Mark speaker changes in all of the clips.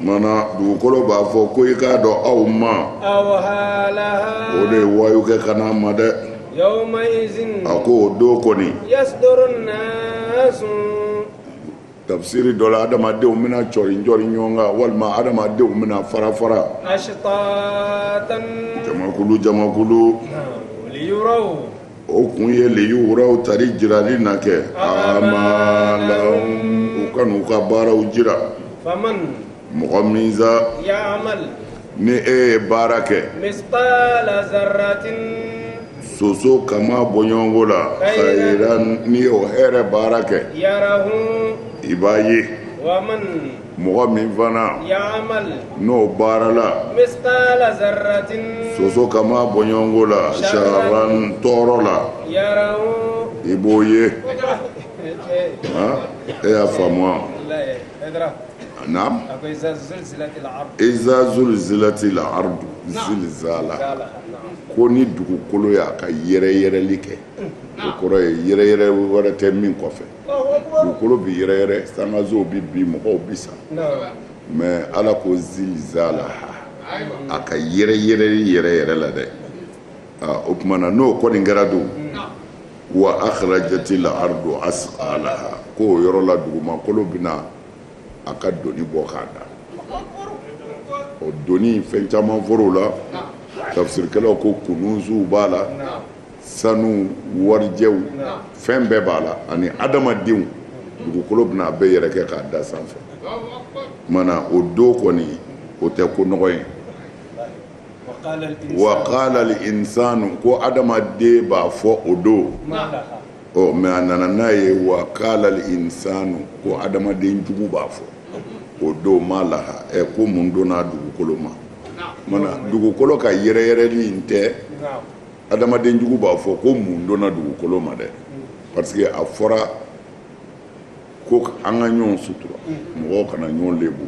Speaker 1: Mana dugukolo b'a fɔ ko i k'a dɔn aw
Speaker 2: ma o de ye
Speaker 1: wayu kɛ ka n'a ma dɛ
Speaker 2: a ko o don kɔni
Speaker 1: tafisiri dɔ la adamadenw bɛna cɔri jɔri ɲɔgɔn kan walima adamadenw bɛna fara
Speaker 2: fara jamakulu
Speaker 1: jamakulu
Speaker 2: o
Speaker 1: kun ye liyuraw tari jirali na kɛ amalahum u ka n'u ka baaraw jira
Speaker 2: mɔgɔ min sa ni e
Speaker 1: ye baara
Speaker 2: kɛ
Speaker 1: soso kama bɔɲɔgɔnko la khairan n'i y'o hɛrɛ baara kɛ
Speaker 2: i b'a
Speaker 1: ye
Speaker 2: mɔgɔ
Speaker 1: min
Speaker 2: fana n'o
Speaker 1: baarala
Speaker 2: soso
Speaker 1: kama bɔɲɔgɔnko la sharran tɔɔrɔ la
Speaker 2: i b'o
Speaker 1: ye e y'a faamu wa iza zulzilatil ardu zilzala ko ni dugukolo y'a ka yɛrɛyɛrɛli kɛ o kɔrɔ ye yɛrɛyɛrɛ wɛrɛ tɛ min kɔfɛ dugukolo bi yɛrɛyɛrɛ sankansow bi bin mɔgɔw bi sa mais ala ko zilzalaha a ka yɛrɛyɛrɛli yɛrɛ yɛrɛ la dɛ o tuma na n'o kɔni kɛra don wa akhrajatil ardu asqalaha ko o yɔrɔ la dugumakolo bɛna a ka doni bɔ k'a da o doni fɛn caman fɔr'o la tafisirikɛlaw ko kunuzuw b'a la sanu warijɛw fɛn bɛɛ b'a la ani adamadenw dugukolo bɛna a bɛɛ yɛrɛkɛ k'a da sanfɛ mana o don kɔni o tɛ ko nɔgɔ ye wa qala al insanu ko adamaden b'a fɔ o don ɔ mais a nana n'a ye wa qala al insanu ko adamaden jugu b'a fɔ o don ma laha ɛ ko mun donna dugukolo ma mana dugukolo ka yɛrɛyɛrɛli in tɛ adamadenjugu b'a fɔ ko mun donna dugukolo ma dɛ parce que a fɔra ko an ka ɲɔgɔn sutura mɔgɔw kana ɲɔgɔn lebu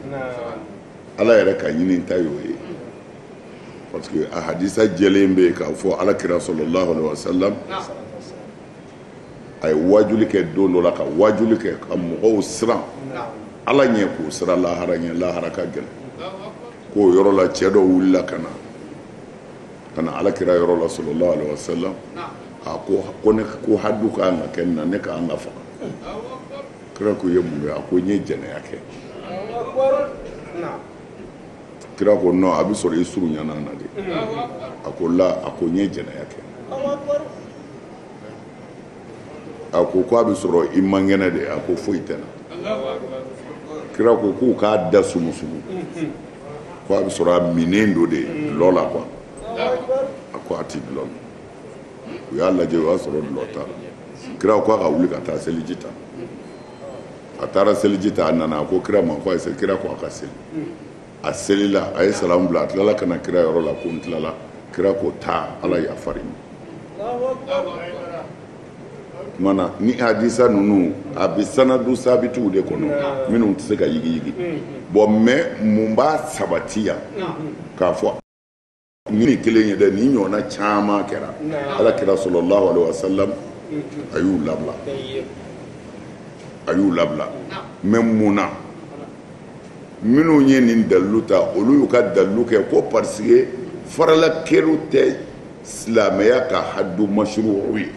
Speaker 1: ala yɛrɛ ka ɲininta y'o ye parce que a hadisa jɛlen bɛ yen k'a fɔ ala kira sallallahu alaihi wa salam a ye waajuli kɛ don dɔ la ka waajuli kɛ ka mɔgɔw siran ala ɲɛ k'o siran lahara ɲɛ lahara ka gɛlɛn k'o yɔrɔ la cɛ dɔ wulila ka na ka na ala kira yɔrɔ la sallallahu alaihi wasallam a ko ko ne ko hadu ka kan ka kɛ n na ne ka kan ka faga kira ko ye mun ye a ko n ye jɛnɛya kɛ kira ko non a bɛ sɔrɔ i surunyana a na de a ko la a ko n ye jɛnɛya kɛ a ko ko a bɛ sɔrɔ i man kɛnɛ de a ko foyi tɛ n na kira ko k'u k'a da sumusumu ko a bɛ sɔrɔ a minnen don de dulɔ la quoi a ko a tɛ dulɔ min u y'a lajɛ u y'a sɔrɔ dulɔ t'a la kira ko a ka wuli ka taa seliji ta a taara seliji ta a nana a ko kira ma ko a ye seli kira ko a ka seli a selila a ye salamu bila a tilala ka na kira yɔrɔ la ko n tilala kira ko taa ala yafara i ma Mana ni hadisa ninnu a bɛ sanadu sabitiw de kɔnɔ minnu tɛ se ka yigiyigi bon mais mun b'a sabati yan k'a fɔ nin kelen ye dɛ nin ɲɔgɔnna caman kɛra ala kira sallallahu alaihi wasallam a y'u labila a y'u labila mais mun na minnu ye nin dalilu ta olu y'u ka dalilu kɛ ko parce que farala kɛrun tɛ silamɛya ka hadu mashru'u ye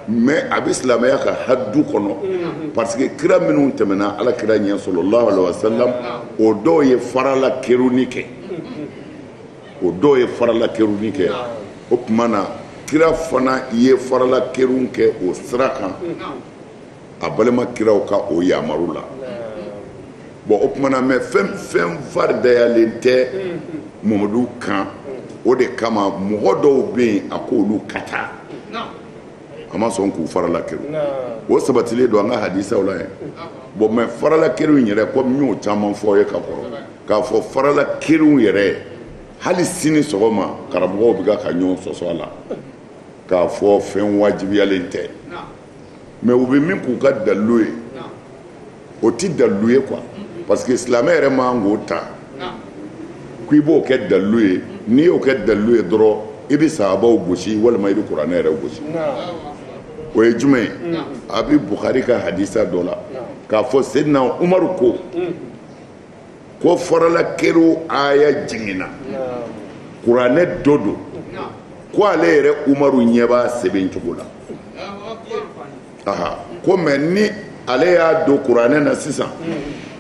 Speaker 1: mais a bɛ silamɛya ka hadu kɔnɔ parce que kira minnu tɛmɛna ala kira ɲɛ sallallahu alaihi wasallam o dɔw ye farala kɛrun kɛ o dɔw ye farala kɛrun kɛ o tuma na kira fana ye farala kɛrun kɛ o sira kan a balima kiraw ka o yamaru la bon o tuma na mais fɛn fɛn faridayalen tɛ mamadu kan o de kama mɔgɔ dɔw bɛ yen a ko olu ka taa a ma sɔn k'u farala kɛrun o sabatilen don an ka hadisaw la yen bon mais farala kɛrun yɛrɛ komi n y'o caman fɔ ye ka kɔrɔ k'a fɔ farala kɛrun yɛrɛ hali sini sɔgɔma karamɔgɔw bɛ ka ɲɔgɔn sɔsɔ a la k'a fɔ fɛn wajibiyalen tɛ mais u bɛ min k'u ka dalilu ye o tɛ dalilu ye quoi parce que silamɛ yɛrɛ man kan k'o ta k'i b'o kɛ dalilu ye n'i y'o kɛ dalilu ye dɔrɔn i bɛ sahabaw gosi walima i bɛ kuranɛ yɛrɛ gosi o ye jumɛn ye a bɛ bukari ka hadisa dɔ la k'a fɔ seyidina umaru ko ko farala kɛrun aya jiginna kuranɛ dɔ don ko ale yɛrɛ umaru ɲɛ b'a sɛbɛn cogo la ko mɛ ni ale y'a don kuranɛ na sisan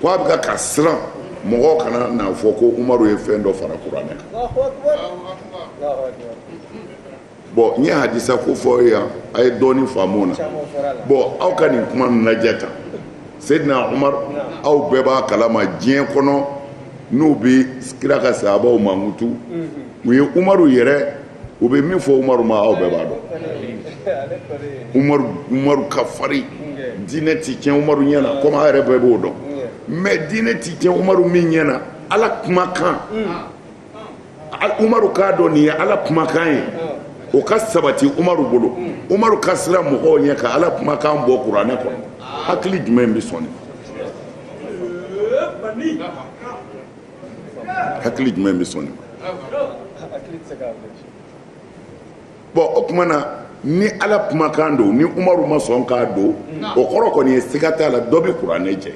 Speaker 1: ko a bɛ ka siran mɔgɔ kana n'a fɔ ko umaru ye fɛn dɔ fara kuranɛ kan bɔn n ye hadisa ko fɔ yan a ye dɔɔnin faamu na bɔn aw ka nin kuma lajɛ tan seyidina umaru aw bɛɛ b'a kalama diɲɛ kɔnɔ n'u bɛ kira ka sahabaw mankutu u ye umaru yɛrɛ u bɛ min fɔ umaru ma aw bɛɛ b'a dɔn umaru ka farin diinɛ tɛ tiɲɛ umaru ɲɛ na komi aw yɛrɛ bɛɛ b'o dɔn mɛ diinɛ tɛ tiɲɛ umaru min ɲɛ na ala kumakan umaru k'a dɔn nin ye ala kumakan ye o ka sabati umaru bolo umaru ka siran mɔgɔw ɲɛ ka ala kumakan bɔ kuranɛ kɔnɔ hakili jumɛn bɛ sɔn nin hakili jumɛn bɛ sɔn nin ma bɔn o kuma na ni ala kumakan don ni umaru ma sɔn k'a don o kɔrɔ kɔni ye siga t'a la dɔ bɛ kuranɛ jɛ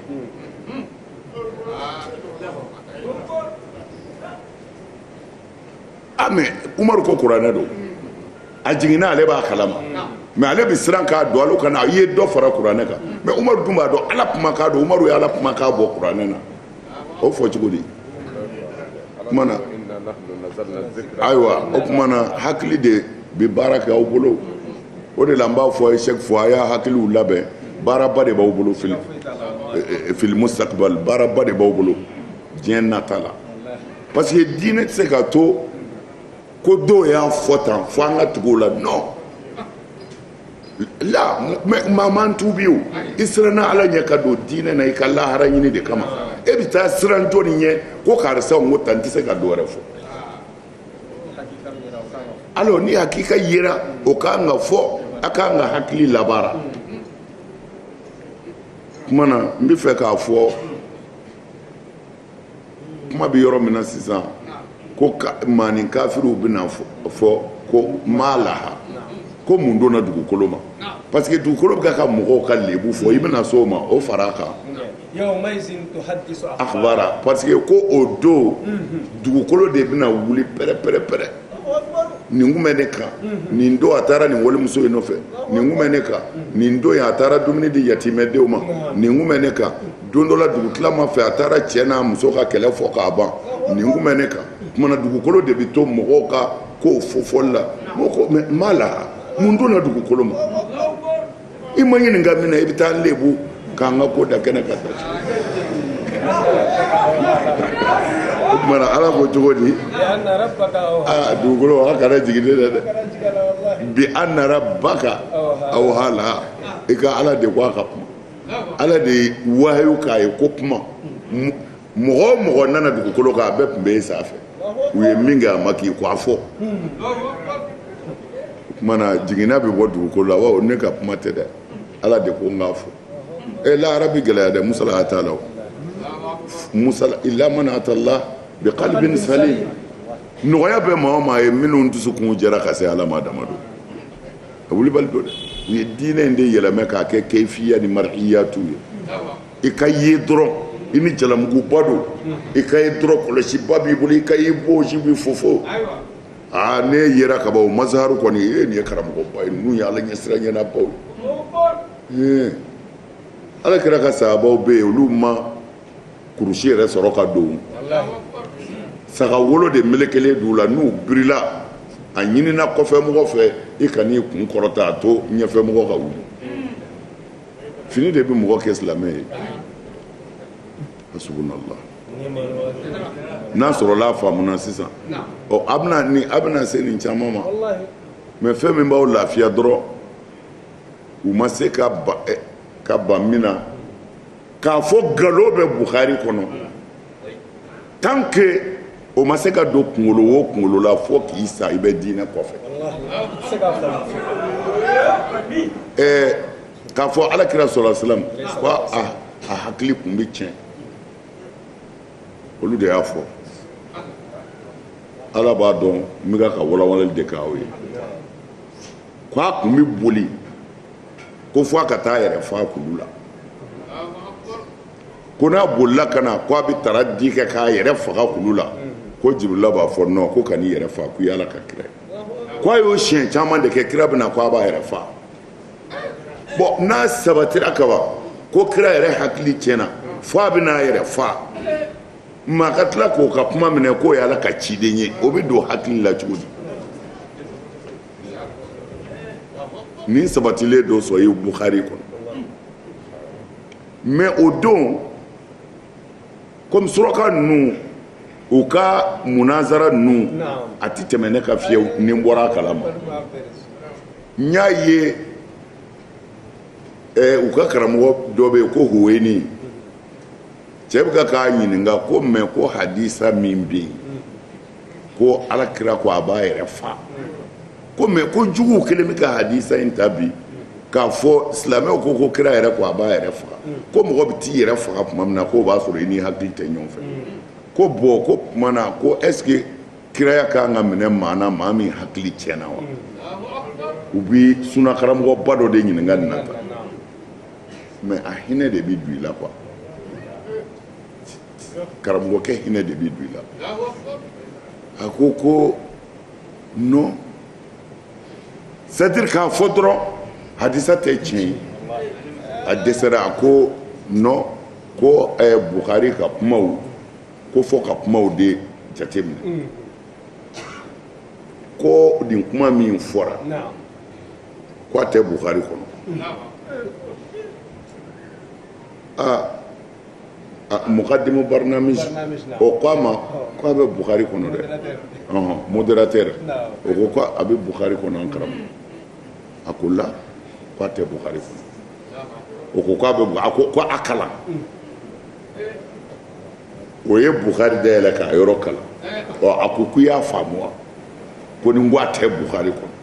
Speaker 1: ah, mɛ umaru ko kuranɛ don a jiginna ale b'a kalama mɛ ale bɛ siran k'a don ale kana a ye dɔ fara kuranɛ kan mɛ umaru dun b'a dɔn ala kumakan don umaru ye ala kumakan bɔ kuranɛ na o fɔ cogo di kuma na ayiwa o kuma na hakili de bɛ baara kɛ aw bolo o de la n b'a fɔ a ye chaque fois a y'a hakiliw labɛn baaraba de b'aw bolo fil eh, eh, fil mustaqbal baaraba de b'aw bolo diɲɛ nata la parce que diinɛ tɛ se ka to ko dɔw y'a fɔ tan fo an ka tugu o la non la maa man tubi o i siranna ala ɲɛ ka don diinɛ na i ka lahara ɲini de kama e bɛ taa siran jɔni ɲɛ ko karisa n ko tan n tɛ se ka dɔ wɛrɛ fɔ alors ni hakika yera o ka kan ka fɔ a ka kan ka hakili labaara kuma na n bɛ fɛ k'a fɔ kuma bɛ yɔrɔ min na sisan ko manin kafiriw bɛna fɔ ko maa laha ko mun donna dugukolo ma parce que dugukolo bɛ ka mɔgɔw ka lebu fɔ i bɛna s'o ma o fara kan akhbara parce que ko o don dugukolo de bɛna wuli pɛrɛ-pɛrɛ-pɛrɛ nin kun bɛ ne kan nin don a taara nin walimuso in nɔfɛ nin kun bɛ ne kan nin don a taara dumuni di yatimɛdenw ma nin kun bɛ ne kan don dɔ la dugutilama fɛ a taara cɛ n'a muso ka kɛlɛ fɔ k'a ban nin kun bɛ ne kan kuma na dugukolo de bɛ to mɔgɔw ka kow fɔfɔli la mɔgɔ ko ma laha mun donna dugukolo ma i ma ɲininka min na i bɛ t'an lebu k'an ka ko da kɛnɛ kan tan o kuma na ala ko cogo di aa dugukolo a kana jigin ne la dɛ bi anna rabbaka awha laha i ka ala de ko a ka kuma ala de ye wahayu k'a ye ko kuma mɔgɔ o mɔgɔ nana dugukolo kan a bɛɛ tun bɛ e sanfɛ u ye min kɛ a ma k'i kɔ a fɔ kuma na jiginna bɛ bɔ dugukolo la wa ne ka kuma tɛ dɛ ala de ko n k'a fɔ e lahara bɛ gɛlɛya dɛ musalaha t'a la o musalaha illa man atallah bi qalbin salim nɔgɔya bɛ maa o maa ye minnu dusukun jɛra ka se ala ma dama don a wulibali don dɛ u ye diinɛ in de yɛlɛmɛ k'a kɛ kefiya ni marihiyatu ye i ka ye dɔrɔn i ni jalamuguba don i ka ye dɔrɔn kɔlɔsiba b'i bolo i ka ye bɔnsi b'i fofo aa n'e yera kaban o mazaharu kɔni e nin ye karamɔgɔba ye ninnu ye ala ɲɛsiran ɲɛnabaw ye ala kira ka sahabaw bɛ yen olu ma kurusi yɛrɛ sɔrɔ ka don saga wolo de melekelen d'u la n'u birila a ɲinina kɔfɛ mɔgɔ fɛ i kan'i kun kɔrɔta a to ɲɛfɛ mɔgɔ ka wuli fini de bɛ mɔgɔ kɛ silamɛ ye hasbunallah n'a sɔrɔla a faamuna sisan ɔ a bɛna ni a bɛna se nin caman ma mɛ fɛn min b'aw lafiya dɔrɔn u ma se ka ka ban min na k'a fɔ galon bɛ buhari kɔnɔ tant que o ma se ka don kunkolo o kunkolo la fo k'i sa i bɛ diinɛ kɔfɛ ɛɛ k'a fɔ alakira sɔlɔ salam ko a a hakili kun bɛ tiɲɛ olu de y'a fɔ ala b'a dɔn n bɛ k'a ka walawalali de k'aw ye ko a kun bɛ boli ko fo a ka taa a yɛrɛ faa kulu la ko n'a bolila ka na ko a bɛ taradi kɛ k'a yɛrɛ faga kulu la ko jibirila b'a fɔ non ko kan'i yɛrɛ faa ko i ala ka kira ko a y'o siɲɛ caman de kɛ kira bɛna ko a b'a yɛrɛ faa bon n'a sabatira kaban ko kira yɛrɛ hakili tiɲɛna fo a bɛna a yɛrɛ faa maa ka tila k'o ka kuma minɛ k'o y'ala ka ciden ye o bɛ don hakili la cogo di nin sabatilen don sɔhihu buhari kɔnɔ mais o don comme suraka ninnu u ka munazara ninnu a tɛ tɛmɛ ne kan fiyewu ni n bɔra a kalama n y'a ye eh, u ka karamɔgɔ dɔ bɛ yen ko huweni cɛ bɛ ka k'a ɲininka ko mais ko hadisa min bɛ yen ko ala kira ko a b'a yɛrɛ fa ko mais ko juguw kɛlen bɛ ka hadisa in ta bi k'a fɔ silamɛw ko ko kira yɛrɛ ko a b'a yɛrɛ faga ko mɔgɔ bɛ t'i yɛrɛ faga tuma min na k'o b'a sɔrɔ i n'i hakili tɛ ɲɔgɔn fɛ ko bon k'o tuma na ko est-ce que kiraya ka kan ka minɛ maa na maa min hakili tiɲɛna wa u bɛ sunakaramɔgɔba dɔ de ɲininka nin na tan mais a hinɛ de bɛ don i la quoi karamɔgɔkɛ hinɛ de bɛ don i la a ko ko non c'est-à-dire k'a fɔ dɔrɔn hadisa tɛ tiɲɛ ye a dɛsɛra a ko non ko eh, Bukhari ka kumaw ko fɔ ka kumaw de jateminɛ mm. ko nin kuma min fɔra ko a tɛ Bukhari kɔnɔ aa mukadimu barnamiji o ko a ma ko a bɛ bukari kɔnɔ dɛ modérateur o ko ko a bɛ bukari kɔnɔ an karamɔgɔ a ko la ko a tɛ bukari kɔnɔ o ko ko a bɛ a ko ko a kalan o ye bukari dayɛlɛ k'a yɔrɔ kalan ɔ a ko k'i y'a faamu wa ko nin ko a tɛ bukari kɔnɔ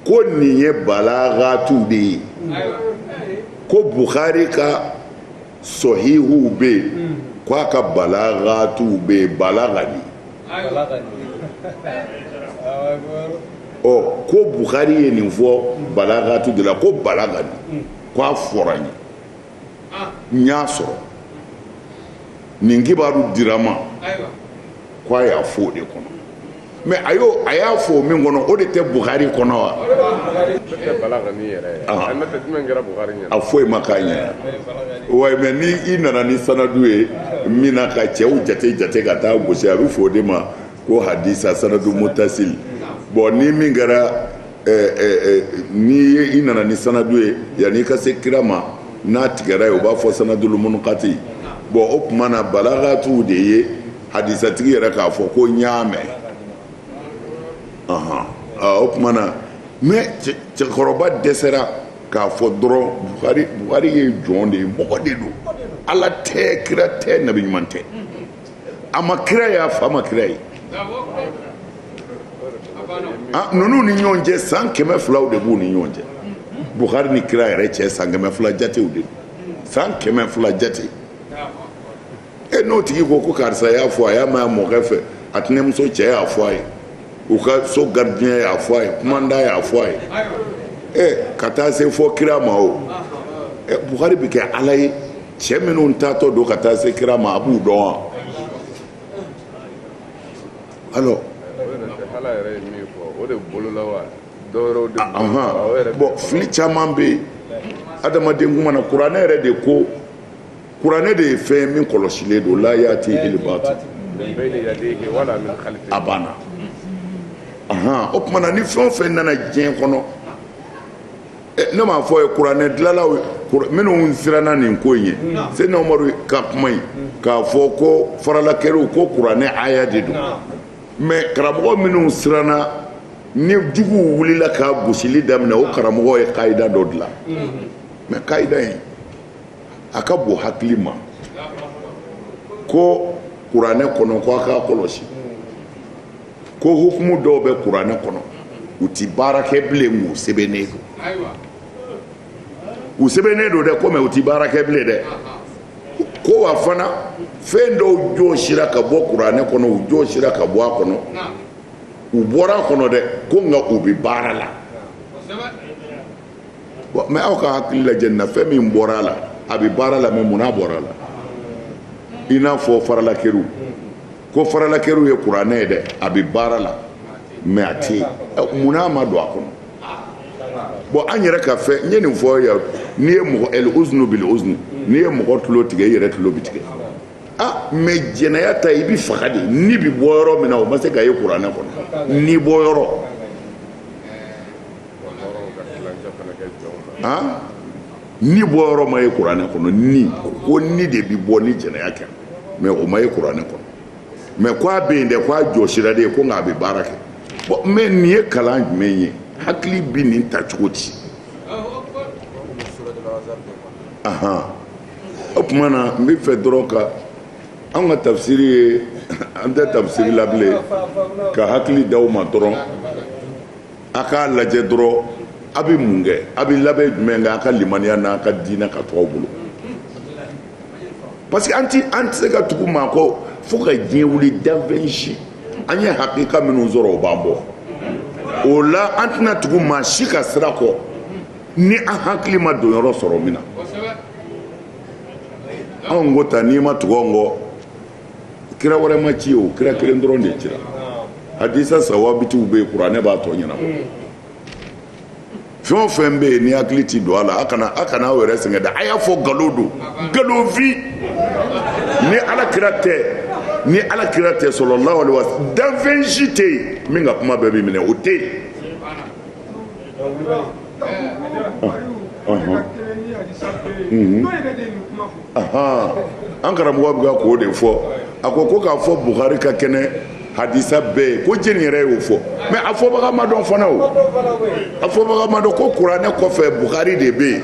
Speaker 1: ko nin ye balagatu de ye ko bukari ka sɔhihuw bɛ yen ko a ka balagatuw bɛ yen balagani ɔ ko bukari ye nin fɔ balagatu de la ko balagani ko a fɔra n ye n y'a sɔrɔ nin kibaru dira n ma ko a y'a fɔ o de kɔnɔ mais a y'o a y'a fɔ o min kɔnɔ o de tɛ bukari kɔnɔ wa a foyi ma k'a ɲɛ wa mais ni i nana ni sanadu ye min na ka cɛw jate jate ka taa gosi a bɛ fɔ o de ma ko hadisa sanadu mutasili bon ni min kɛra n'i ye i nana ni sanadu ye yanni i ka se kira ma n'a tigɛra yen u b'a fɔ sanadul munkati bon o tuma na balagatu de ye hadisatigi yɛrɛ k'a fɔ ko n y'a mɛn o tuma na mais cɛkɔrɔba dɛsɛra k'a fɔ dɔrɔn bukari ye jɔn de ye mɔgɔ de don ala tɛ kira tɛ nabi ɲuman tɛ a ma kira ye a fa ma kira ye ah, ninnu ni ɲɔgɔn cɛ san kɛmɛ filaw de b'u ni ɲɔgɔn cɛ buhari ni kira yɛrɛ cɛ san kɛmɛ fila jatew de san kɛmɛ fila jate e n'o tigi ko ko karisa y'a fɔ a y'a mɛn a mɔkɛ fɛ a tɛnɛmuso cɛ y'a fɔ a ye u ka so garidiɲɛ y'a fɔ a ye kumandan y'a fɔ a ye ɛ ka taa se fo kira ma o ɛ buhari bɛ kɛ ala ye cɛ minnu taatɔ don ka taa se kira ma a b'u dɔn
Speaker 3: wa alors bɔn fili caman
Speaker 1: bɛ yen adamaden kuma na kuranɛ yɛrɛ de ko kuranɛ de ye fɛn min kɔlɔsilen don la yatihil batil a banna o tuma na ni fɛn o fɛn nana diɲɛ kɔnɔ ne m'a fɔ ye kuranɛ dilanlaw minnu siranna nin ko in ye seyidina umaru ka kuma in k'a fɔ ko faralakɛriw ko kuranɛ aya de don mɛ karamɔgɔ minnu siranna ni juguw wulila ka gosili daminɛ o karamɔgɔ ye kayida dɔ dilan mɛ kayida in a ka bon hakili ma ko kuranɛ kɔnɔ ko a k'a kɔlɔsi ko hukumu dɔw bɛ kuranɛ kɔnɔ u tɛ baara kɛ bilen k'u sɛbɛnnen don u sɛbɛnnen don dɛ ko mɛ u tɛ baara kɛ bilen dɛ ko wa fana fɛn dɔw jɔsira ka bɔ kuranɛ kɔnɔ u jɔsira ka bɔ a kɔnɔ u bɔra a kɔnɔ dɛ ko nka u bɛ baara la mɛ aw ka hakili lajɛ nin na fɛn min bɔra a la a bɛ baara la mɛ munna a bɔra a la i n'a fɔ faralakɛriw ko faralakɛriw ye kuranɛ ye dɛ a bɛ baara la mɛ a tɛ yen munna a ma don a kɔnɔ bɔn an yɛrɛ ka fɛn n ye nin fɔ yan n'i ye mɔgɔ ɛli uzunu bili uzunu n'i ye mɔgɔ tulo tigɛ i yɛrɛ tulo bi tigɛ ah mɛ jɛnɛya ta i bi faga de ni bi bɔ yɔrɔ min na o ma se ka ye kuranɛ kɔnɔ ni bɔ yɔrɔ ah ni bɔ yɔrɔ ma ye kuranɛ kɔnɔ ni ko ni de bɛ bɔ ni jɛnɛya kɛ mɛ o ma ye kuranɛ kɔnɔ mɛ ko a bɛ yen dɛ ko a jɔsira de ye ko nka a bɛ baara kɛ bɔn mɛ nin ye kalan jumɛn ye hakili bɛ nin ta cogo di ahan o tuma na n bɛ fɛ dɔrɔn ka an ka tafsiri ye an tɛ tafsiri la bilen ka hakili d'aw ma dɔrɔn a k'a lajɛ dɔrɔn a bɛ mun kɛ a bɛ labɛn jumɛn kɛ a ka limaniya n'a ka diinɛ ka to aw bolo parce que an tɛ an tɛ se ka tugu maa kɔ fo ka diɲɛ wuli danfɛn si an ye hakika minnu sɔrɔ o b'an bɔ o la an tɛna tugu maa si ka sira kɔ ni an hakili ma don yɔrɔ sɔrɔ min na anw ko ta n'i ma tugu an kɔ kira wɛrɛ ma ci o kira kelen dɔrɔn de cira hadisa sawabitiw bɛ yen kuranɛ b'a tɔ ɲɛnabɔ hmm. fɛn o fɛn bɛ yen ni hakili ti don a la a kana a kana aw yɛrɛ sɛgɛn dɛ a y'a fɔ nkalon don nkalon fin ni ala kira tɛ ni ala kira tɛ salalahu alayi wa salamu danfɛn si tɛ yen min ka kuma bɛɛ bɛ minɛ o tɛ yen. an karamɔgɔ bɛ ka k'o de fɔ a ko ko k'a fɔ bukari ka kɛnɛ hadisa bɛɛ ye ko jɛni yɛrɛ y'o fɔ mɛ a fɔbaga ma dɔn fana o a fɔbaga ma dɔn ko kuranɛ kɔfɛ bukari de bɛ yen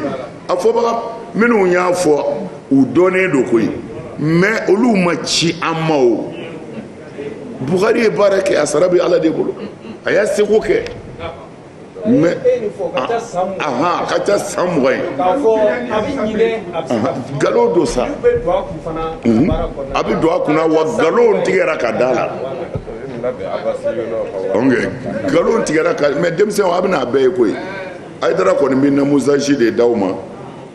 Speaker 1: a fɔbaga minnu y'a fɔ u dɔnnen don koyi mɛ olu ma ci an ma o bukari ye baara kɛ a sara bɛ ala de bolo a y'a seko kɛ mɛ a ka ca san mugan ye nkalon don sa mhm. a bɛ don a kunna wa nkalon tigɛra ka d'a la nkalon tigɛra ka mɛ denmisɛnw a bɛna a bɛɛ ye koyi hayidara kɔni bɛ namuzaji de d'aw ma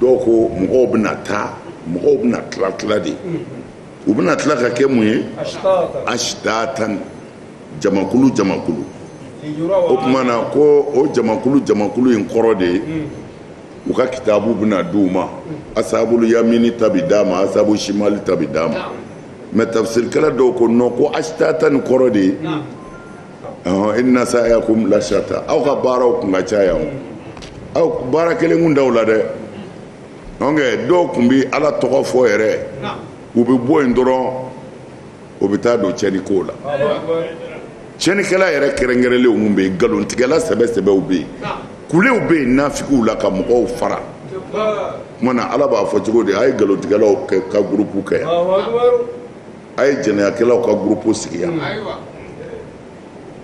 Speaker 1: dɔw ko mɔgɔw bɛna taa mɔgɔw bɛna tila tila de u bɛna tila ka kɛ mun ye asitatan jamakulu jamakulu o tuma na ko o jamakulu jamakulu in kɔrɔ de ye u ka kitabu bɛna di u ma asabulu yamini ta bi d'a ma asabulu simali ta bi d'a ma mɛ tafusirikɛla dɔw ko nɔn ko asitatan ni kɔrɔ de ye inna sayakum lasata aw ka baaraw kun ka ca yan aw baara kelen kun t'aw la dɛ dɔw kun bɛ ala tɔgɔ fɔ yɛrɛ u bɛ bɔ yen dɔrɔn u bɛ taa don cɛnnikow la cɛnnikɛla yɛrɛ kɛrɛnkɛrɛnlenw kun bɛ yen nkalontigɛla sɛbɛ sɛbɛw bɛ yen kulew bɛ yen nafigiw la ka mɔgɔw fara kuma na ala b'a fɔ cogo di a ye nkalontigɛlaw ka gurupu kɛ yan a ye jɛnɛyakɛlaw ka gurupu sigi yan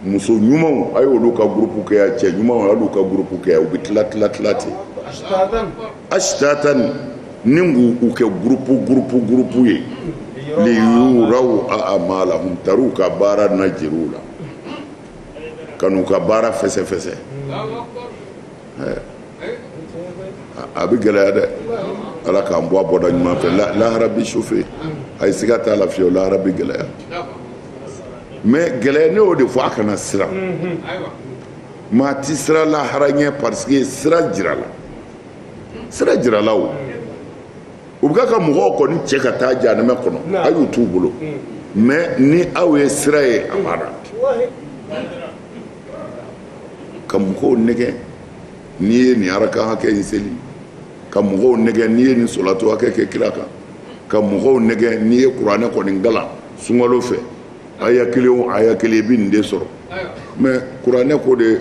Speaker 1: muso ɲumanw a ye olu ka gurupu kɛ yan cɛ ɲumanw a y'olu ka gurupu kɛ yan u bɛ tila tila tila ten asitatani ni k'u kɛ gurupu gurupu gurupu ye liyuraw amalahum tari u ka baara na jir'u la ka n'u ka baara fɛsɛfɛsɛ a bɛ gɛlɛya dɛ ala k'an bɔ a bɔda ɲuman fɛ lahara bɛ sofe a ye siga t'a la fiyewu lahara bɛ gɛlɛya mɛ gɛlɛya ne y'o de fɔ a kana siran maa tɛ siran lahara ɲɛ pariseke sira jirala sira jirala o u bɛ ka mɔgɔw kɔni cɛ ka taa jahanɛmɛ kɔnɔ a y'u t'u bolo mɛ ni aw ye sira ye a banna ka mɔgɔw nɛgɛ n'i ye nin araka hakɛ in seli ka mɔgɔw nɛgɛ n'i ye nin solato hakɛ kɛ kira kan ka mɔgɔw nɛgɛ n'i ye kuranɛ kɔni kalan sunkalo fɛ aya kelen o aya kelen i bɛ nin de sɔrɔ mɛ kuranɛ ko de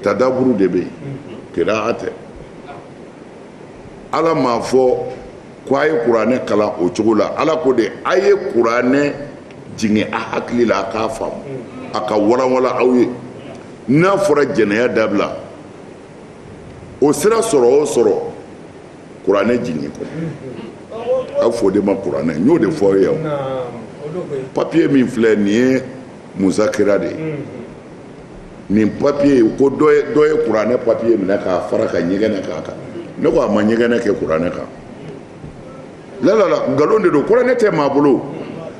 Speaker 1: tadaburu de bɛ yen kira'a tɛ ala m'a fɔ ko a ye kuranɛ kalan o cogo la ala ko de a ye kuranɛ jigin a hakili la a k'a faamu a k'a walanwalan aw ye n'a fɔra jɛnɛya dabila o sira sɔrɔ o sɔrɔ kuranɛ jigin kɔnɔ a bɛ fɔ o de ma kuranɛ n y'o de fɔ aw ye papiye min filɛ nin ye musakira de ye nin papiye ko dɔ ye kuranɛ papiye minɛ k'a fara ka ɲɛgɛnɛ k'a kan ne ko a ma ɲɛgɛnɛ kɛ kuranɛ kan lalala nkalon de don kuranɛ tɛ maa bolo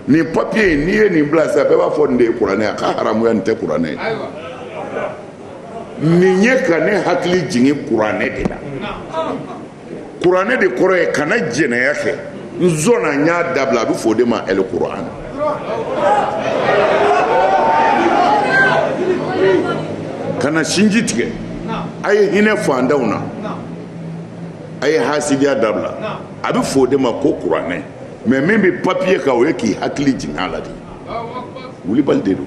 Speaker 1: nin papiye n'i ye nin bila sisan bɛɛ b'a fɔ nin de ye kuranɛ a ka haramuya nin tɛ kuranɛ ye nin ye ka ne hakili jigin kuranɛ de la kuranɛ de kɔrɔ ye kana jɛnɛya kɛ n sɔnna n y'a dabila a bɛ fɔ o de ma ɛl kuran kana sinji tigɛ a ye hinɛ fantanw na a ye hasidiya dabila a bɛ fɔ o de ma ko kuranɛ mɛ min bɛ papiye kan o ye k'i hakili jigin a la de wulibali de don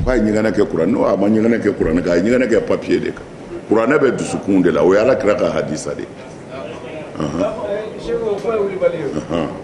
Speaker 1: k'a ye ɲɛgɛnɛ kɛ kuran n'o a ma ɲɛgɛnɛ kɛ kuranɛ kan a ye ɲɛgɛnɛ kɛ papiye de kan kuranɛ bɛ dusukun de la o ye ala kira ka hadisa de ye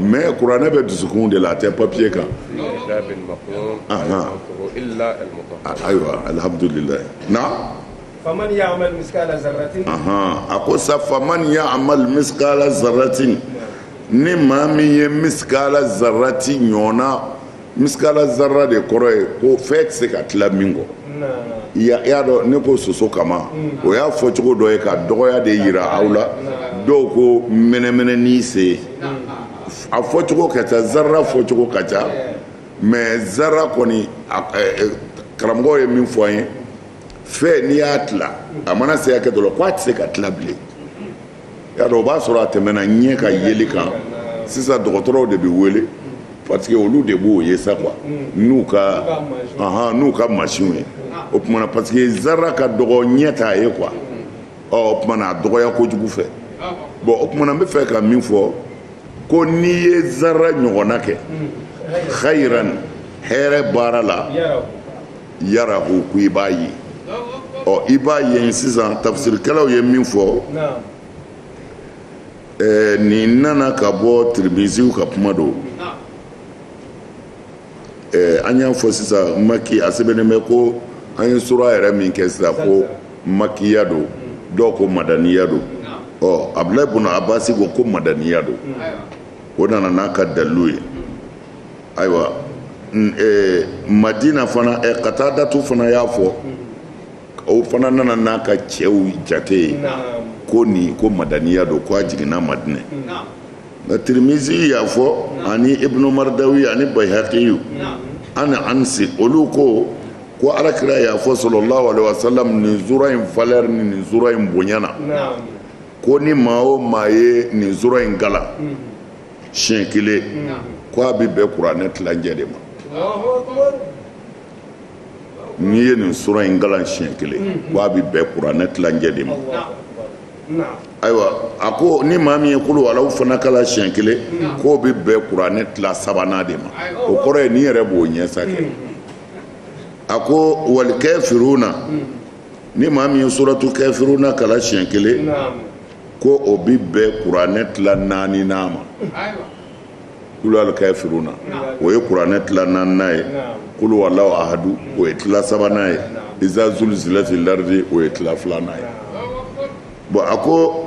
Speaker 1: mɛ kuranɛ bɛ dusukun de la a tɛ papiye kan ayiwa alihamdulila
Speaker 2: naamu a ko
Speaker 1: sa faman yamal misikala zaratin ni maa min ye misikala zaratin ɲɔgɔnna misikala zara de kɔrɔ ye ko fɛn tɛ se ka tila min kɔ i y'a dɔn ne ko soso kaman o y'a fɔ cogo dɔ ye ka dɔgɔya de yira aw la dɔw ko mɛnɛmɛnɛnin sen a fɔcogo ka ca zara fɔcogo ka ca mɛ zara kɔni karamɔgɔ ye min fɔ an ye fɛn n'i y'a tila a mana se hakɛ dɔ la ko a tɛ se ka tila bilen y'a dɔn o b'a sɔrɔ a tɛmɛna ɲɛ ka yeli kan sisan dɔgɔtɔrɔw de bɛ wele parce que olu de b'o ye sa quoi n'u ka ahan n'u ka machine ye o tuma na parce que zara ka dɔgɔ ɲɛ t'a ye quoi ɔ o tuma na a dɔgɔya kojugu fɛ bon o tuma na n bɛ fɛ ka min fɔ ko n'i ye zara ɲɔgɔnna kɛ xayiran hɛrɛ baara la yarahu ko i b'a ye ɔ i b'a ye sisan tafsirikɛlaw ye min fɔ ɛɛ nin nana ka bɔ tirimiziw ka kuma don ɛɛ an y'a fɔ sisan maki a sɛbɛnnen bɛ ko an ye sura yɛrɛ min kɛ sisan ko makiya don dɔw ko madaniya don ɔ abudulayi buna abasi ko ko madaniya don o nana n'a ka dalilu ye. ayiwa madina fana katadatu fana y'a fɔ o fana nana n'a ka cɛw jate ye ko nin ko madaniya don ko a jiginna madinɛ nka tirimizi y'a fɔ ani ibunu maridawi ani bayihakiyu an anasi olu ko ko alakira y'a fɔ salalahu alaihi wasalam nin sura in valeur ni nin sura in bonyana ko ni maa o maa ye nin sura in kalan siɲɛ kelen k'a bɛ bɛn kuranɛ tilancɛ de ma n'i ye nin sura in kalan siɲɛ kelen k'a bɛ bɛn kuranɛ tilancɛ de ma ayiwa a ko ni maa min ye kuluwala fana kalan siɲɛ kelen k'o bɛ bɛn kuranɛ tila sabanan de ma o kɔrɔ ye n'i yɛrɛ b'o ɲɛ sa kɛ a ko wali kafiruna ni maa min ye suratu kafiruna kalan siɲɛ kelen ko o bɛ bɛn kuranɛ tila naaninan ma kuluwa kafiruna o ye kuranɛ tila naaninan ye kuluwala ahadu o ye tila sabanan ye iza zulizilati laridi o ye tila filanan ye bon a ko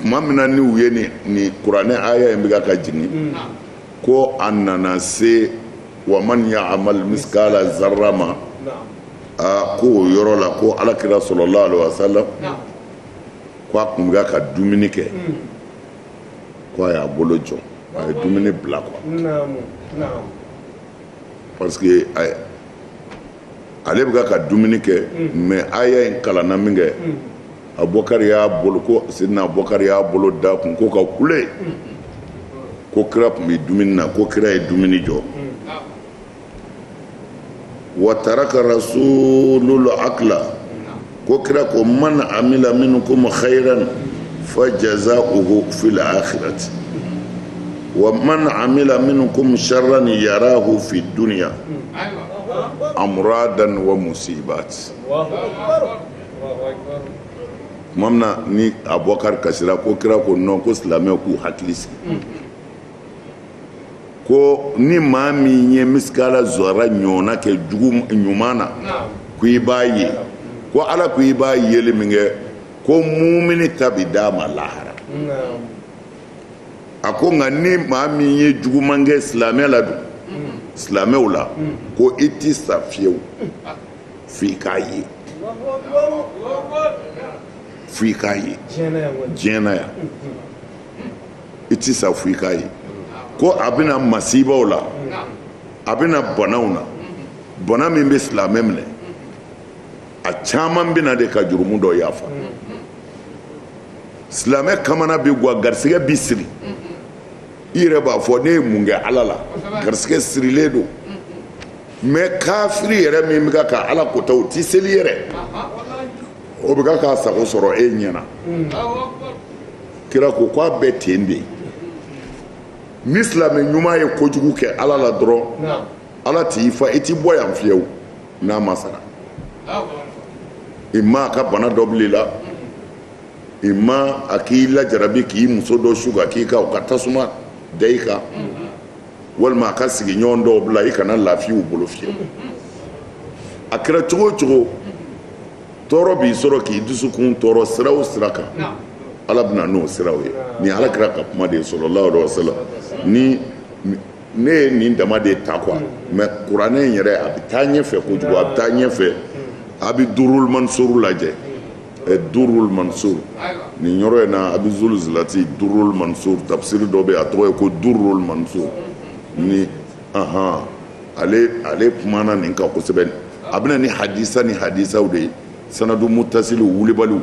Speaker 1: tuma min na ni u ye ni kuranɛ aya in bɛ ka jigin ko a nana se wa man yaamali misikala zara ma aa ko o yɔrɔ la ko alakira salalahu alaihi wasalam ko a tun bɛ ka dumuni kɛ ko a y'a bolo jɔ a ye dumuni bila quoi parce que ale bɛ ka dumuni kɛ mais aya in kalanna minkɛ abubakari y'a bolo ko sidina abubakari y'a bolo da kun ko ka kule ko kira tun bɛ dumuni na ko kira ye dumuni jɔ wa taraka rasulul akila ko kira ko man amila minkum hayiran fajazawuhu fili akirati wa man amila minkum saran yarahu fi dunya amuradan wa musibatin tuma min na ni abubakari kasira ko kira ko non ko silamɛw k'u hakili sigi ko ni maa min ye misikala zɔra ɲɔgɔnna kɛ jugu ɲuman na ko i b'a ye ko ala ko i b'a yeli min kɛ ko mumini ta bi d'a ma lahara a ko nka ni maa min ye juguman kɛ silamɛ la dun silamɛw la ko i tɛ sa fiyewu f'i k'a ye f'i k'a ye diɲɛ na yan i tɛ sa fo i k'a ye ko a bɛ na masibaw la a bɛ na banaw na bana min bɛ silamɛ minɛ a caman bɛ na de ka jurumu dɔ yafa silamɛ kamana bɛ gwan garisigɛ bi siri i yɛrɛ b'a fɔ ne ye mun kɛ ala la garisigɛ sirilen don mais kafiri yɛrɛ min bɛ ka ka ala kota o tɛ seli yɛrɛ o bɛ ka k'a sago sɔrɔ e ɲɛna kira ko ko a bɛ ten de ni silamɛ ɲuman ye kojugu kɛ ala la dɔrɔn ala t'i fa i t'i bɔ yan fiyewu n'a ma sara i ma a ka bana dɔ bil'i la ima a k'i lajarabi k'i muso dɔ su ka k'i kan o ka tasuma da i kan walima a ka sigiɲɔgɔn dɔw bila i kana lafiya u bolo fiyewu a kɛra cogo o cogo tɔɔrɔ b'i sɔrɔ k'i dusukun tɔɔrɔ sira o sira kan ala bɛ na n'o siraw ye nin ala kira ka kuma de ye sallallahu alayhi wa sallam ni ne ye nin dama de ta quoi mais kuranɛ in yɛrɛ a bɛ taa ɲɛ fɛ kojugu a bɛ taa ɲɛ fɛ a bɛ durul mansur lajɛ durul mansur nin yɔrɔ in na a bɛ zulzilati durul mansur tafsiri dɔ bɛ a tɔgɔ ye ko durul mansur ni aɔn ale kumana nin kan kosɛbɛ a bɛ na ni hadisa ni hadisaw de ye sanadu mutasili wulibali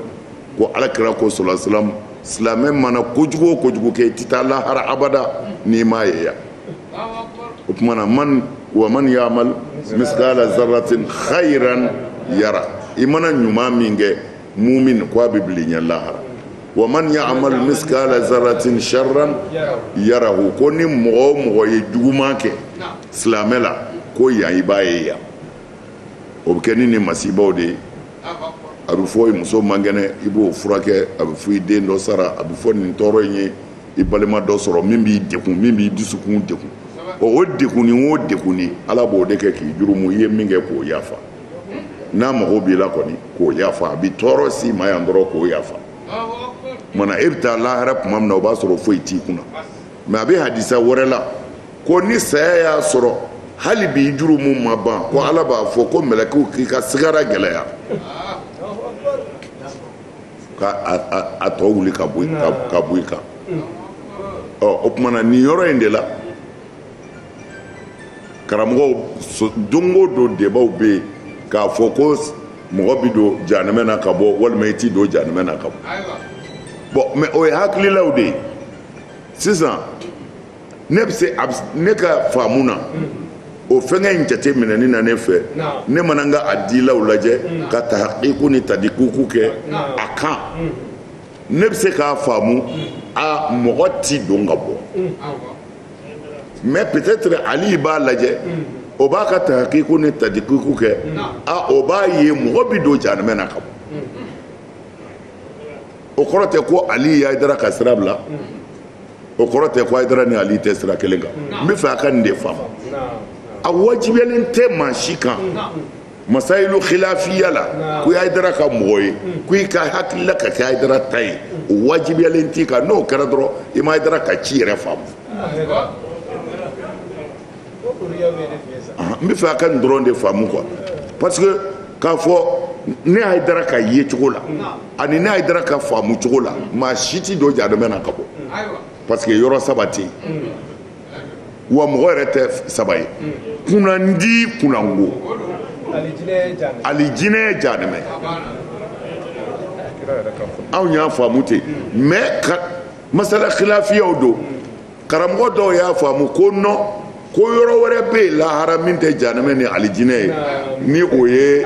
Speaker 1: ko ala kira ko sallallahu alayhi wa sallam silamɛ mana kojugu o kojugu kɛ i tɛ taa lahara abada n'i m'a ye yan o tuma na man wa man ya'mal miskala zarratin khayran yara i mana ɲuman min kɛ mumin ko a bɛ bil'i ɲɛ lahara wa man ya'mal miskala zarratin sharran yarahu ko ni mɔgɔ o mɔgɔ ye juguman kɛ silamɛ la ko yan i b'a ye yan o bɛ kɛ ni nin masibaw de ye a bɛ fɔ i muso man kɛnɛ i b'o furakɛ a bɛ fɔ i den dɔ sara a bɛ fɔ nin tɔɔrɔ in ye i balima dɔ sɔrɔ min b'i degun min b'i dusukun degun o degunni o degunni ala b'o de kɛ k'i jurumu i ye min kɛ k'o yafa n'a mago b'i la kɔni k'o yafa a bi tɔɔrɔ s'i ma yan dɔrɔn k'o yafa tuma na e bɛ taa lahara tuma min na o b'a sɔrɔ foyi t'i kunna mais a bɛ hadisa wɛrɛ la ko ni saya y'a sɔrɔ hali bi jurumu ma ban ko ala b'a fɔ ko mɛlɛkɛw k'i ka sigara gɛlɛya ka a tɔ wuli ka bɔ i kan ɔ o tuma na nin yɔrɔ in de la karamɔgɔw don o don debaw bɛ yen k'a fɔ ko mɔgɔ bɛ don janɛmɛ na ka bɔ walima i ti don janɛmɛ na ka bɔ bon mais o ye hakililaw de ye sisan ne bɛ se ne ka faamu na o fɛnkɛ in jate minɛni na ne fɛ ne mana n ka adilaw lajɛ ka tahqiqu ni tadqiqu kɛ a kan ne bɛ se k'a faamu a mɔgɔ ti don ka bɔ mais peut-être ali b'a lajɛ o b'a ka tahqiqu ni tadqiqu kɛ a o b'a ye mɔgɔ bɛ don janɛmɛ na ka bɔ o kɔrɔ tɛ ko ali ye ayidara ka sira bila o kɔrɔ tɛ ko ayidara ni ali tɛ sira kelen kan n bɛ fɛ a ka nin de faamu a wajibiyalen tɛ maa si kan masayilu khilafiya la ko ayidara ka mɔgɔ ye ko i ka hakilila ka kɛ ayidara ta ye o wajibiyalen t'i kan n'o kɛra dɔrɔn i ma ayidara ka ci yɛrɛ faamu n bɛ fɛ a ka nin dɔrɔn de faamu quoi parce que k'a fɔ ne ayidara ka ye cogo la ani ne ayidara ka faamu cogo la maa si ti don janɛmɛ na ka bɔ parce que yɔrɔ saba tɛ yen wa mɔgɔ yɛrɛ tɛ saba ye kunandi kunango alijinɛ janɛmɛ anw y'a faamu ten mais masala khilafiyaw don karamɔgɔ dɔw y'a faamu ko non ko yɔrɔ wɛrɛ bɛ yen lahara min tɛ janɛmɛ ni alijinɛ ye ni o ye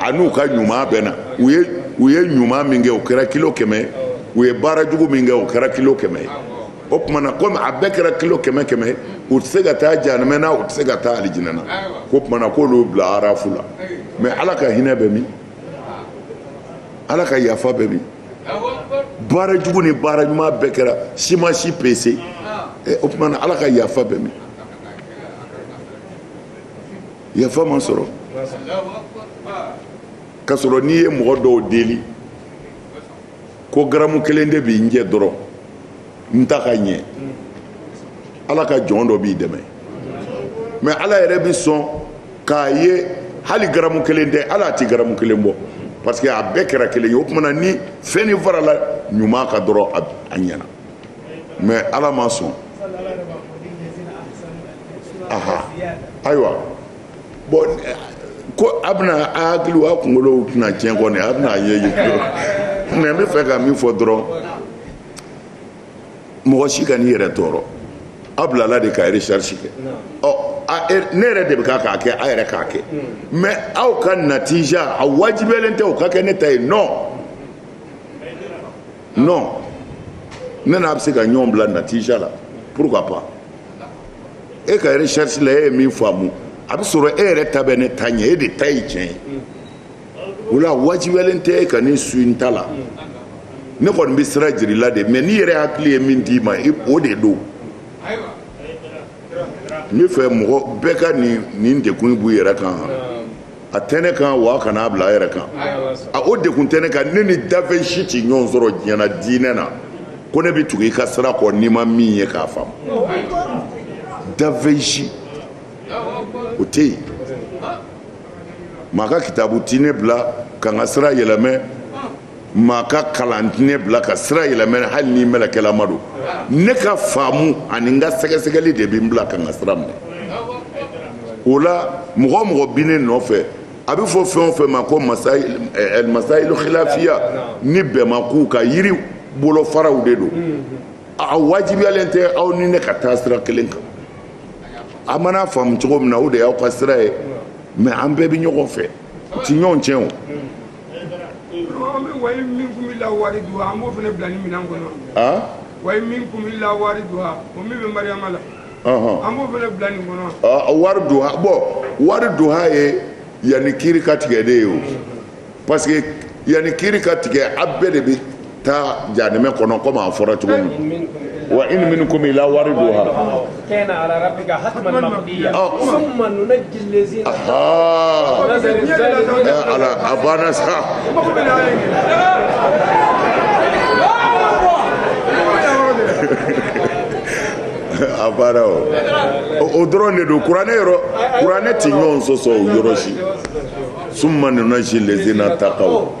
Speaker 1: an'u ka ɲuman bɛnna u ye u ye ɲuman min kɛ o kɛra kilo kɛmɛ u ye baara jugu min kɛ o kɛra kilo kɛmɛ ye o tuma na komi a bɛɛ kɛra kilo kɛmɛ kɛmɛ u tɛ se ka taa janɛmɛ na u tɛ se ka taa alijinɛ na k'o tuma na k'olu bila arafu la mais ala ka hinɛ bɛ min ala ka yafa bɛ min baara jugu ni baara ɲuman bɛɛ kɛra si ma si pese o tuma na ala ka yafa bɛ min yafa ma sɔrɔ k'a sɔrɔ n'i ye mɔgɔ dɔw deli ko garamu kelen de bi n jɛ dɔrɔn n ta ka ɲɛ ala ka jɔn dɔ b'i dɛmɛ mais ala yɛrɛ bɛ sɔn k'a ye hali garamu kelen tɛ ala a tɛ garamu kelen bɔ parce que a bɛɛ kɛra kelen ye o tuma na ni fɛnnin farala ɲuman kan dɔrɔn a ɲɛna mais ala ma sɔn aha ayiwa bon ko a bɛna a hakili a kunkolow tɛna tiɲɛ kɔni a bɛna a ye ye mais n bɛ fɛ ka min fɔ dɔrɔn mɔgɔ si kan'i yɛrɛ tɔɔrɔ a bilala de ka recherche kɛ ɔ ne yɛrɛ de bɛ k'a kɛ a yɛrɛ k'a kɛ mais aw ka natija a wajibiyalen tɛ o ka kɛ ne ta ye non non ne n'a bɛ se ka ɲɔgɔn bila natija la pourquoi pas e ka recherche la e ye min faamu a bɛ sɔrɔ e yɛrɛ ta bɛ ne ta ɲɛ e de ta ye tiɲɛ ye o la wajibiyalen tɛ e ka ne suivre n ta la ne kɔni bɛ sira jira i la de mais n'i yɛrɛ hakili ye min d'i ma o de don n bɛ fɛ mɔgɔ bɛɛ ka nin degun b'u yɛrɛ kan. a tɛ ne kan wa kana a bila a yɛrɛ kan a o degun tɛ ne kan ne ni dafɛn si tɛ ɲɔgɔn sɔrɔ diɲɛ na diinɛ na ko ne bɛ tugu i ka sira kɔ ni n ma min ye k'a faamu dafɛn si o tɛ yen maa ka kitabu tɛ ne bila ka n ka sira yɛlɛmɛ maa ka kalan tɛ ne bila ka sira yɛlɛmɛ hali ni mɛlɛkɛlama don ne ka faamu ani n ka sɛgɛsɛgɛli de bɛ n bila ka n ka sira minɛ o la mɔgɔ o mɔgɔ bi ne nɔfɛ a bɛ fɔ fɛn o fɛn ma ko masayilu khilafiya ni bɛnmakow ka yiri bolofaraw de don a wajibiyalen tɛ aw ni ne ka taa sira kelen kan a mana faamu cogo min na o de y'aw ka sira ye mais an bɛɛ bɛ ɲɔgɔn fɛ u tɛ ɲɔgɔn tiɲɛ o wa
Speaker 4: in minkum illa wariduha an b'o fana bila ni minɛn kɔnɔ an wa in minkum illa wariduha o min bɛ mariyama la ɔhɔn an b'o fana bila nin kɔnɔ Ɔ, wariduha
Speaker 1: bon wariduha ye yanni kiri ka tigɛ de ye o parce que yanni kiri ka tigɛ a bɛɛ de bɛ taa janɛmɛ kɔnɔ komi a fɔra cogo min wa in minkum illa wariduha ala a banna sa a banna o o dɔrɔn de don kuranɛ yɔrɔ kuranɛ tɛ ɲɔgɔn sɔsɔ o yɔrɔ si summa nunajji lezina takaw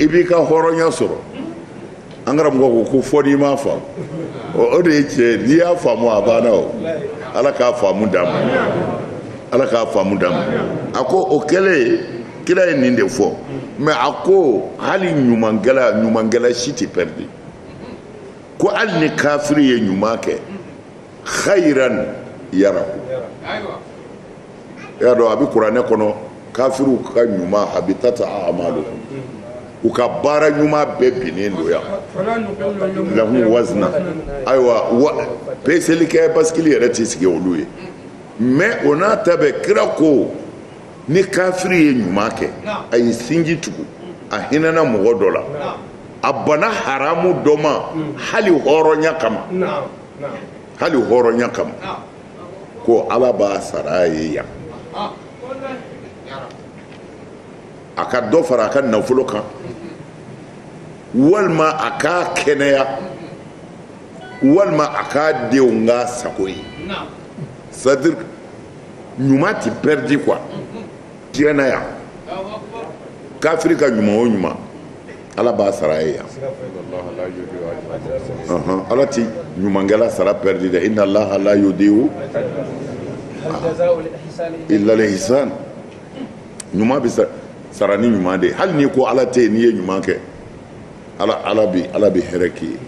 Speaker 1: i b'i ka hɔrɔnya sɔrɔ an karamɔgɔ ko ko fo n'i m'a faamu o de ye tiɲɛ n'i y'a faamu a banna o ala k'a faamu d'an ma ala k'a faamu d'an ma a ko o kɛlen kira ye nin de fɔ mais a ko hali ɲumankɛla ɲumankɛla si tɛ pɛridi ko hali ni kafiri ye ɲuman kɛ khayran yarahu y'a dɔn a bɛ kuranɛ kɔnɔ kafiriw ka ɲuman habitat a'maluhum u ka baara ɲuman bɛɛ binnen don yan lahum wazna ayiwa peselikɛ basikili yɛrɛ tɛ sigi olu ye mais o n'a ta bɛɛ kira ko ni kafiri ye ɲuman kɛ a ye sinji tugu a hinɛna mɔgɔ dɔ la a bana haramu dɔ ma hali hɔrɔnya kama hali hɔrɔnya kama ko ala b'a sara a ye yan a ka dɔ fara a ka nafolo kan walima a k'a kɛnɛya walima a k'a denw k'a sago ye c'est-à-dire ɲuman ti pɛridi quoi diɲɛ na yan kafiri ka ɲuman o ɲuman ala b'a sara a ye yan ala ti ɲumankɛla sara pɛridi dɛ inna allaha la yudiu illa lihsan ɲuman bi sara ni ɲuman de hali n'i ko ala tɛ yen n'i ye ɲuman kɛ ala bi hɛrɛ k'i ye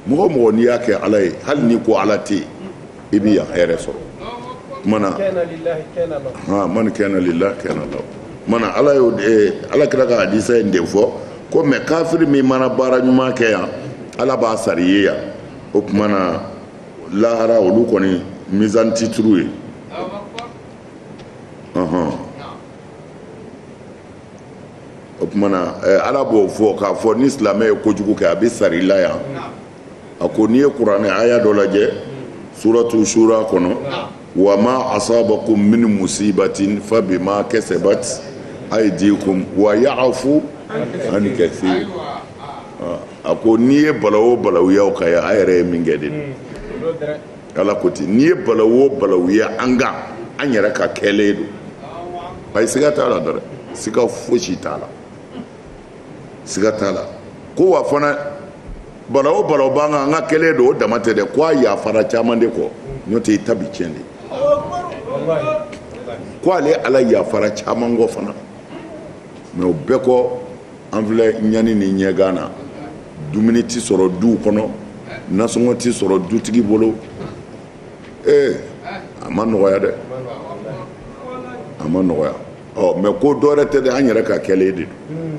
Speaker 1: mɔgɔ o mɔgɔ n'i y'a kɛ ala ye hali n'i ko ala tɛ yen i bɛ yan hɛrɛ sɔrɔ mana man kana lillahi kana lahu mana ala ala kira ka hadisa in de fɔ ko mais kafiri min mana baara ɲuman kɛ yan ala b'a sara i ye yan o tuma na lahara olu kɔni mizan ti turu u ye o tuma na ala b'o fɔ k'a fɔ ni silamɛ ye kojugu kɛ a bɛ sara i la yan a ko n'i ye kuranɛ aya dɔ lajɛ suratu shura kɔnɔ wa ma asabakum min musibatin fa bima kasabat aydikum wa ya'fu an kathir a ko n'i ye balawu o balawu ye aw kan yan a yɛrɛ ye min kɛ de ala ko ten n'i ye balawu o balawu ye an kan an yɛrɛ ka kɛlen don ayi siga t'a la dɛrɛn siga fosi t'a la siga t'a la ko wa fana balawu o balawu b'an kan an ka kɛlen don o dama tɛ dɛ ko a yafara caman de kɔ n'o tɛ i ta bi tiɲɛ de ko ale ala yafara caman kɔ fana mais o bɛɛ kɔ An filɛ ɲani ni ɲɛgan na, dumuni tɛ sɔrɔ duw kɔnɔ, nasɔngɔ tɛ sɔrɔ dutigi bolo, ee a ma nɔgɔya dɛ, a ma nɔgɔya, ɔ mais ko dɔ wɛrɛ tɛ dɛ, an yɛrɛ ka kɛlen de don,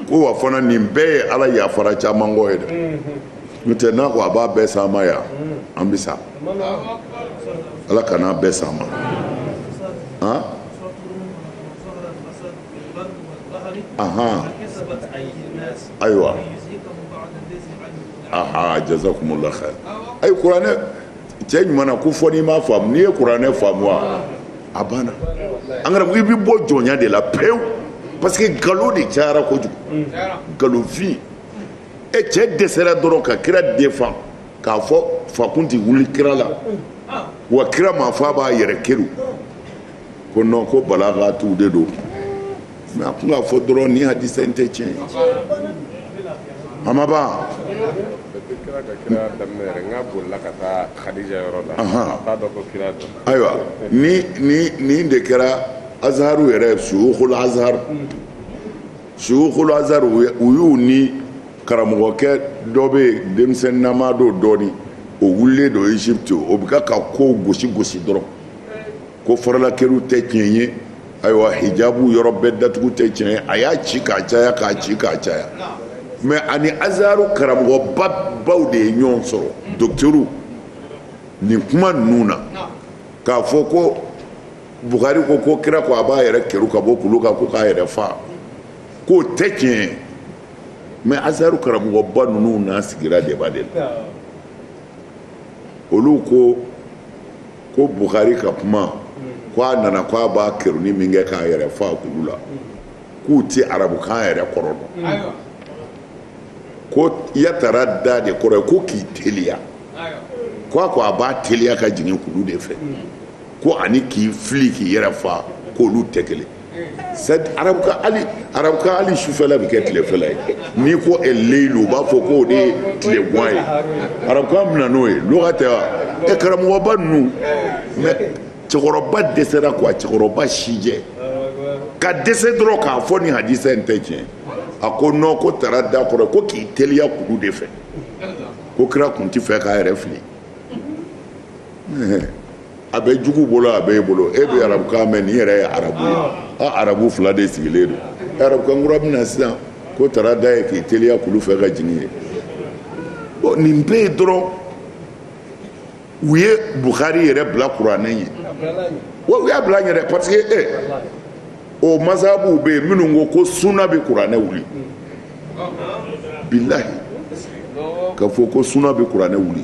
Speaker 1: ko wa fana nin bɛɛ ye Ala yafara caman kɔ ye dɛ, n'o tɛ n'a ko a b'a bɛɛ s'an ma yan, an bɛ sa, Ala kan'a bɛɛ s'an ma, an aha ayiwa aha jazakumullah khair ayi kuranɛ cɛ ɲuman na ko fɔ n'i m'a faamu n'i ye kuranɛ faamu wa a banna an kana i bɛ bɔ jɔnya de la pewu parce que nkalon de cayara kojugu nkalonfin e cɛ dɛsɛra dɔrɔn ka kira défendre k'a fɔ fa kun tɛ wuli kira la wa kira m'a fɔ a b'a yɛrɛ kɛru ko non ko balagatuw de don mais a kun k'a fɔ dɔrɔn nin hadisa in tɛ tiɲɛ ye a ma ban ayiwa ni ni nin de kɛra azaharu yɛrɛ suyukul azhar suyukul azhar u y'u ni karamɔgɔkɛ dɔ bɛ yen denmisɛnnama don dɔɔni o wulilen don egypte o bɛ ka ka kow gosi gosi dɔrɔn ko faralakɛru tɛ tiɲɛ ye ayiwa hijabu yɔrɔ bɛɛ datugu tɛ tiɲɛ ye a y'a ci k'a caya k'a ci k'a caya mais ani azaru karamɔgɔba baw de ye ɲɔgɔn sɔrɔ dɔkitɛriw nin kuma ninnu na k'a fɔ ko buhari ko ko kira ko a b'a yɛrɛ kɛru ka bɔ kulu kan ko k'a yɛrɛ fa k'o tɛ tiɲɛ ye mais azaru karamɔgɔba ninnu n'a sigira débat de la olu ko ko buhari ka kuma ko a nana ko a b'a kɛruni min kɛ k'a yɛrɛ fa kulu la k'u tɛ arabukan yɛrɛ kɔrɔ dɔn ko yatarada de kɔrɔ ye ko k'i teliya ko a ko a b'a teliya ka jigin kulu de fɛ ko ani k'i fili k'i yɛrɛ fa k'olu tɛ kelen arabukan hali arabukan hali sufɛla bɛ kɛ tilefɛla ye n'i ko leyilu u b'a fɔ ko o de ye tilegwan ye arabukan bɛ na n'o ye lugha tɛ wa ɛ karamɔgɔba ninnu mais cɛkɔrɔba dɛsɛra quoi cɛkɔrɔba sijɛ ka dɛsɛ dɔrɔn k'a fɔ nin hadisa in tɛ tiɲɛ a ko non ko tarada kɔrɔ ko k'i teliya kulu de fɛ ko kira kun tɛ fɛ k'a yɛrɛ fili a bɛ jugu bolo a bɛ i bolo e bɛ arabukan mɛn nin yɛrɛ ye arabu ye arabu fila de sigilen don arabukan kura bɛ na sisan ko tarada ye k'i teliya kulu fɛ ka jigin ye bon nin bɛɛ ye dɔrɔn u ye buhari yɛrɛ bila kuranɛ ɲɛ u y'a bila yɛrɛ parce que o mazahabuw bɛ yen minnu ko ko suna bɛ kuranɛ wuli billahi k'a fɔ ko suna bɛ kuranɛ wuli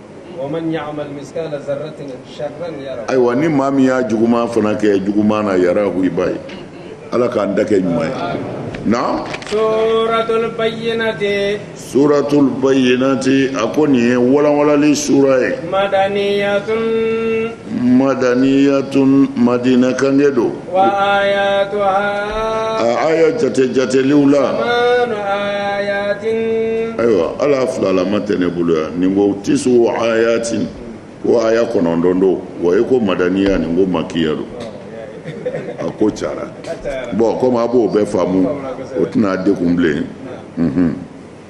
Speaker 1: Ayiwa ni maa min y'a juguman fana kɛ juguman na yarahu i b'a ye ala k'an da kɛ ɲuman ye na suratul bayyinati a ko nin ye walanwalanli sura ye madaniyatun madina kange don a aya jate jateliw la ayiwa ala filalama tɛ ne bolo yan nin ko tisu ayatin ko aya kɔnɔntɔn don wa e ko madaniya nin ko makiya don a ko cara bɔn komi a b'o bɛɛ faamu o tɛna degun bilen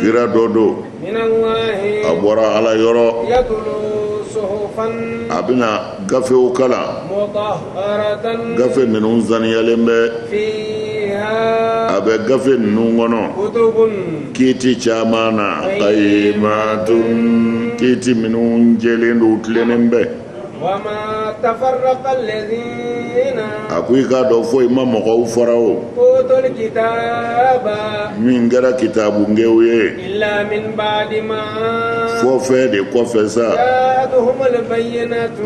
Speaker 2: kira
Speaker 1: dɔ
Speaker 2: don a
Speaker 1: bɔra ala
Speaker 2: yɔrɔ a bɛna
Speaker 1: gafew kalan
Speaker 2: gafe ninnu
Speaker 1: saniyalen
Speaker 2: bɛ a
Speaker 1: bɛ gafe ninnu
Speaker 2: kɔnɔ
Speaker 1: kiti caman na kayimatun kiti minnu jɛlen don tilennen bɛ
Speaker 2: a ko i
Speaker 1: k'a dɔn foyi ma mɔgɔw fara
Speaker 2: o min kɛra
Speaker 1: kitabungew ye
Speaker 2: fo fɛn
Speaker 1: de kɔfɛ sa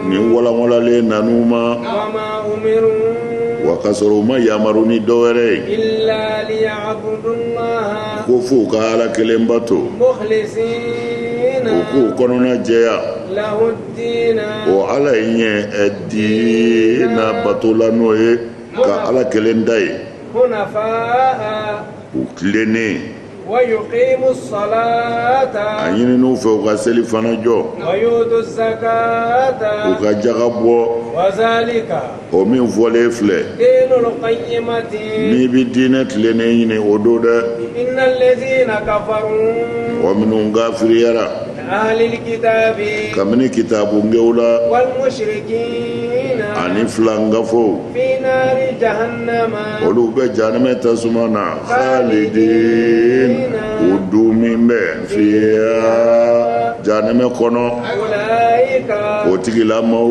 Speaker 2: nin
Speaker 1: walanwalanlen nan'u
Speaker 2: ma wa
Speaker 1: ka sɔrɔ u ma yamaru ni dɔ wɛrɛ
Speaker 2: ye ko fo u ka
Speaker 1: ala kelen bato
Speaker 2: u k'u
Speaker 1: kɔnɔna jɛya
Speaker 2: ala ye
Speaker 1: ɲɛ diina bato la n'o ye ka ala kelen ta ye
Speaker 2: u
Speaker 1: tilennen
Speaker 2: a ɲinin'u
Speaker 1: fɛ u ka seli fana
Speaker 2: jɔ u ka jaka
Speaker 1: bɔ
Speaker 2: o min
Speaker 1: fɔlen
Speaker 2: filɛ n'i bɛ
Speaker 1: diinɛ tilennen ɲini o don
Speaker 2: dɛ wa minnu
Speaker 1: kafiriyara
Speaker 2: kabini
Speaker 1: kitabungew la ani
Speaker 2: filankafow olu bɛ
Speaker 1: jahanamɛ tasuma na khalidin u duumɛn bɛ fiha jahanamɛ kɔnɔ
Speaker 2: o
Speaker 1: tigilamaw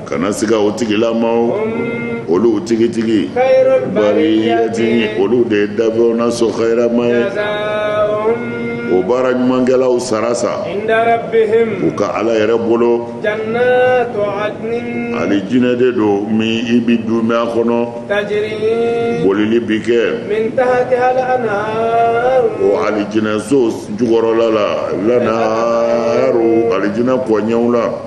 Speaker 2: kana
Speaker 1: siga o tigilamaw olu
Speaker 2: tigitigi bariyati olu
Speaker 1: de ye dafɛnw na so kayirama ye
Speaker 2: o baara
Speaker 1: ɲumankɛlaw sara sa
Speaker 2: u ka ala yɛrɛ
Speaker 1: bolo
Speaker 2: alijinɛ
Speaker 1: de don min i bɛ duumɛ a
Speaker 2: kɔnɔ bolili bi kɛ o alijinɛso
Speaker 1: jukɔrɔla la lanharu alijinɛ kɔɲɛw la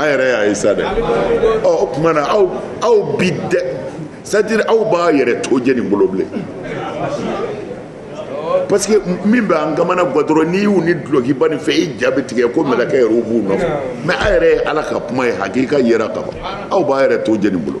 Speaker 1: an yɛrɛ y'a ye sa dɛ ɔ o tuma na aw aw bi dɛ c'est-à-dire aw b'a yɛrɛ to jɛ nin bolo bilen parce que min bɛ an kamanagan dɔrɔn n'i y'u ni dulɔkiba nin fɛ i ja bɛ tigɛ ko mɛlɛkɛ yɛrɛw b'u nɔfɛ mais a yɛrɛ ye ala ka kuma ye hakika yera ka ban aw b'a yɛrɛ to jɛ nin bolo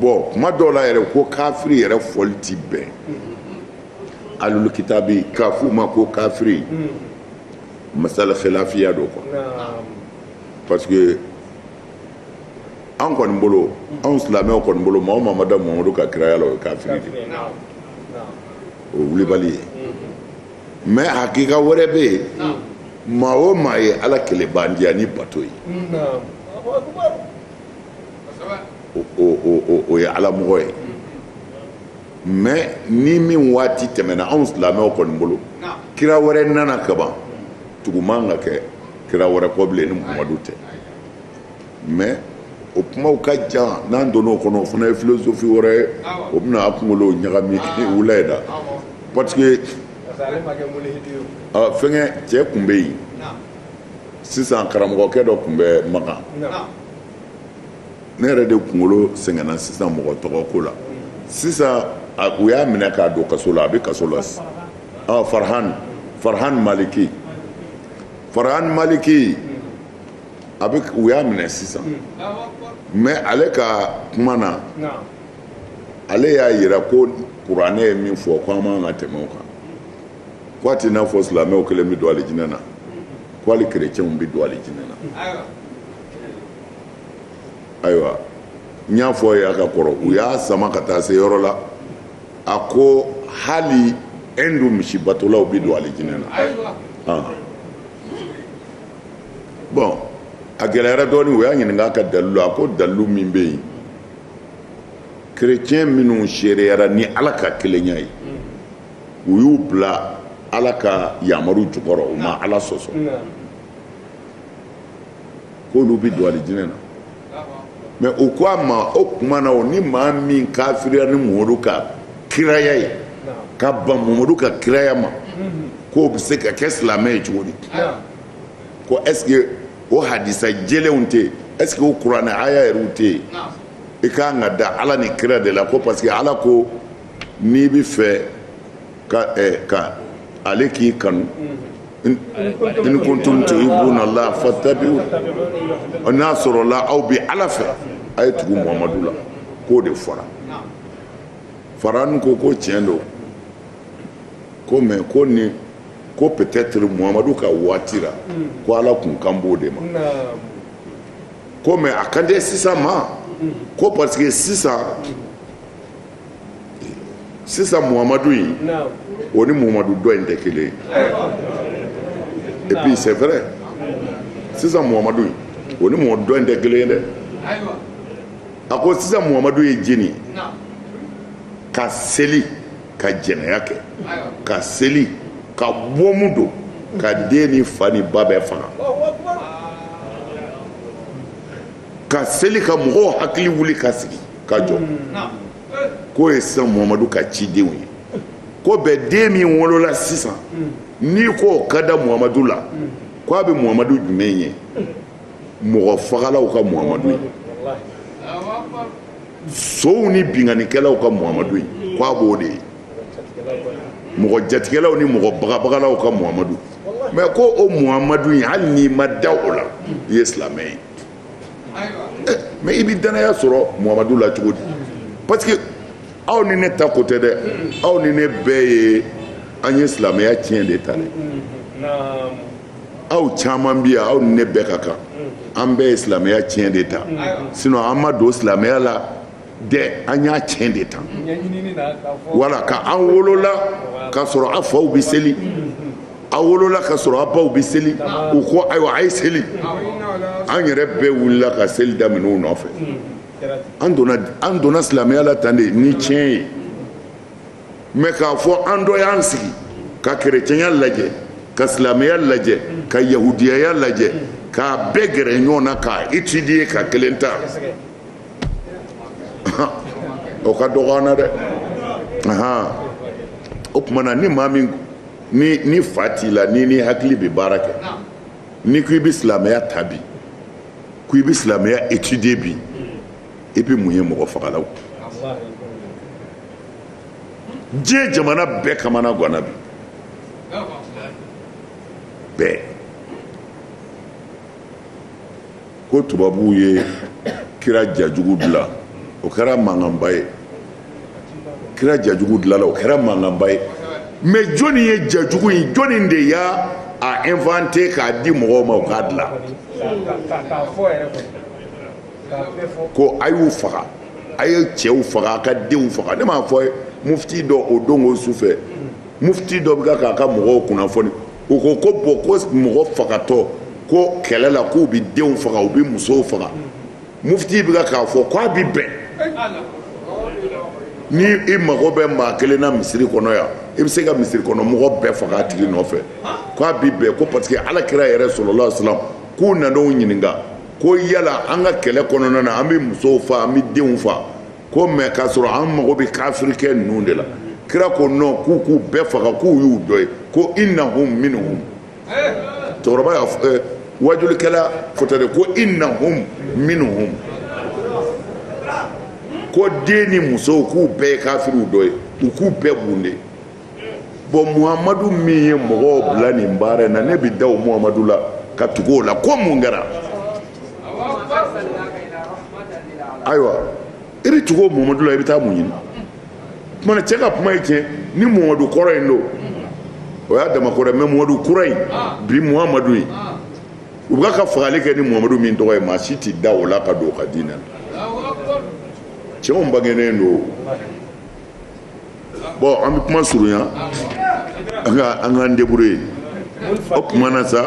Speaker 1: bon kuma dɔw la yɛrɛ ko kafiri yɛrɛ fɔli ti bɛn ahlul kitabi k'a f'u ma ko kafiri masala khilafiya do quoi parce que an kɔni bolo anw silamɛw kɔni bolo maa o maa ma da mamadu ka kiraya la o ye kafiri de ye o ye wulibali ye mais hakika wɛrɛ bɛ yen maa o maa ye ala kelebandiya ni bato ye o ye ala mɔgɔ ye mais ni min waati tɛmɛna anw silamɛw kɔni bolo kira wɛrɛ nana kaban tugu man ka kɛ kira wɛrɛ kɔ bilen ni muhamadu tɛ mais o kumaw ka jan n'an donna o kɔnɔ o fana ye philosophie wɛrɛ ye o bɛna a kunkolo ɲagami wula in na parce que fɛnkɛ cɛ tun bɛ yen sisan karamɔgɔkɛ dɔ tun bɛ makan ne yɛrɛ de kunkolo sɛgɛnna sisan mɔgɔ tɔgɔ ko la sisan u y'a minɛ k'a don kaso la a bɛ kaso la farahan farahan maliki farahan maliki a bɛ u y'a minɛ sisan mais ale ka kuma na ale y'a jira ko kuranɛ ye min fɔ ko an man ka tɛmɛ o kan K'a tɛ i n'a fɔ silamɛw kelen bɛ don alijinɛ na, ko hali kerecɛnw bɛ don alijinɛ na, ayiwa, n y'a fɔ aw ye a ka kɔrɔ, u y'a sama ka taa se yɔrɔ la, a ko hali Hindu misibatolaw bɛ don alijinɛ na, bon a gɛlɛyara dɔɔni, u y'a ɲininka a ka dalilu la, a ko dalilu min bɛ yen, kerecɛn minnu seereyara ni Ala ka kelenya ye. u y'u bila ala ka yamaru jukɔrɔ u ma ala sɔsɔ k'olu bɛ don alijinɛ na mais u ko a ma o tuma na o ni maa min kafiriya ni mamadu ka kiraya ye ka ban mamadu ka kiraya ma k'o bɛ se ka kɛ silamɛ ye cogo di ko est-ce que o hadisa jɛlenw tɛ yen est-ce que o kuranɛ aya yɛrɛw tɛ yen i kan ka da ala ni kira de la ko parce que ala ko n'i bɛ fɛ ka ɛ ka ale k'i kanu in kuntum tuhibbuna Allah fattabi'u n'a sɔrɔla aw bɛ Ala fɛ a ye tugu Muhamadu la k'o de fɔra Farhan ko ko tiɲɛ don ko mais ko nin ko peut-être Muhamadu ka waati la ko Ala tun kan b'o de ma ko mais a kan tɛ sisan ma ko parce que sisan sisan muhamadu in o ni muhamadu dɔ in tɛ kelen et puis c'est vrai sisan muhamadu in o ni muhamadu dɔ in tɛ kelen ye dɛ a ko sisan muhamadu ye jeni ka seli ka jɛnɛya kɛ ka seli ka bɔmu don ka den ni fa ni ba bɛɛ faga ka seli ka mɔgɔw hakili wuli ka sigi ka jɔ k'o ye sisan muhamadu ka cidenw ye ko bɛɛ den min wolola sisan n'i k'o ka da muhamadu la ko a bɛ muhamadu jumɛn ye mɔgɔ fagalaw ka muhamadu ye sonw ni binkannikɛlaw ka muhamadu ye ko a b'o de ye mɔgɔ jatigɛlaw ni mɔgɔ bagabagalaw ka muhamadu mais ko o muhamadu ye hali n'i ma da o la i ye silamɛ ye mais i bɛ dannaya sɔrɔ muhamadu la cogo di parce que aw ni ne ta ko tɛ dɛ aw ni ne bɛɛ ye an ye silamɛya tiɲɛ de ta dɛ aw caman bi yan aw ni ne bɛɛ ka kan an bɛɛ ye silamɛya tiɲɛ de ta sinon an ma don silamɛya la dɛ an y'a tiɲɛ de ta wala ka an wolola k'a sɔrɔ a faw bɛ seli a wolola k'a sɔrɔ a baw bɛ seli u ko ayiwa a ye seli an yɛrɛ bɛɛ wulila ka seli daminɛ u nɔfɛ an donna silamɛya la tan de ni tiɲɛ ye mais k'a fɔ an dɔ y'an sigi ka kerecɛnya lajɛ ka silamɛya lajɛ ka yahudiyaya lajɛ k'a bɛɛ gɛrɛ ɲɔgɔn na k'a étudier ka kelen ta o ka dɔgɔ an na dɛ o tuma na ni maa min ni fa t'i la n'i hakili bɛ baara kɛ n'i ko i bɛ silamɛya ta bi ko i bɛ silamɛya étudier bi i bɛ mun ye mɔgɔ fagalaw diɲɛ jamana bɛɛ kamana ganna bi bɛɛ ko tubabuw ye kira jajugu dilan o kɛra mankanba ye kira jajugu dilanna o kɛra mankanba ye mais jɔni ye jajugu in jɔni de y'a inventer k'a di mɔgɔw ma u k'a dilan ko a y'u faga a ye cɛw faga a ka denw faga ne m'a fɔ mufti dɔ o don o su fɛ mufti dɔ bɛ ka k'a ka mɔgɔw kunnafoni o ko ko bon ko mɔgɔ fagatɔ ko kɛlɛ la k'u bɛ denw faga u bɛ musow faga mufti bɛ k'a fɔ k'a bɛ bɛn ni i mago bɛ maa kelen na misiri kɔnɔ yan i bɛ se ka misiri kɔnɔ mɔgɔ bɛɛ faga a tigi nɔfɛ k'a bɛ bɛn ko parce que ala kira yɛrɛ sallallahu alaihi wasallam k'u nan'o ɲininka ko yala an ka kɛlɛ kɔnɔna na an bɛ musow faa an bɛ denw faa ko mɛ k'a sɔrɔ an mago bɛ kafirikɛ ninnu de la kira ko nɔn k'u k'u bɛɛ faga k'u y'u dɔ ye ko innahum minhum cɛkɔrɔba y'a eh, wajulikɛla fɔta de ko innahum minhum ko den ni musow k'u bɛɛ ye kafiriw dɔ ye u k'u bɛɛ bunde bɔn muhamadu min ye mɔgɔw bila nin baara in na ne bɛ da o muhamadu la ka tugu o la ko mun kɛra ayiwa i bɛ tugu o muhamadu la i bɛ taa mun ɲini tuma cɛ ka kuma ye tiɲɛ ni muhamadu kɔrɔ in don o y'a dama ko dɛ mɛ muhamadu kura in bi muhamadu in u bɛ ka fagali kɛ ni muhamadu min tɔgɔ ye maa si tɛ da o la ka don o ka diinɛ la cɛ o bangenen don bɔn an bɛ kuma surunya an ka an k'an débrouiller o tuma na sa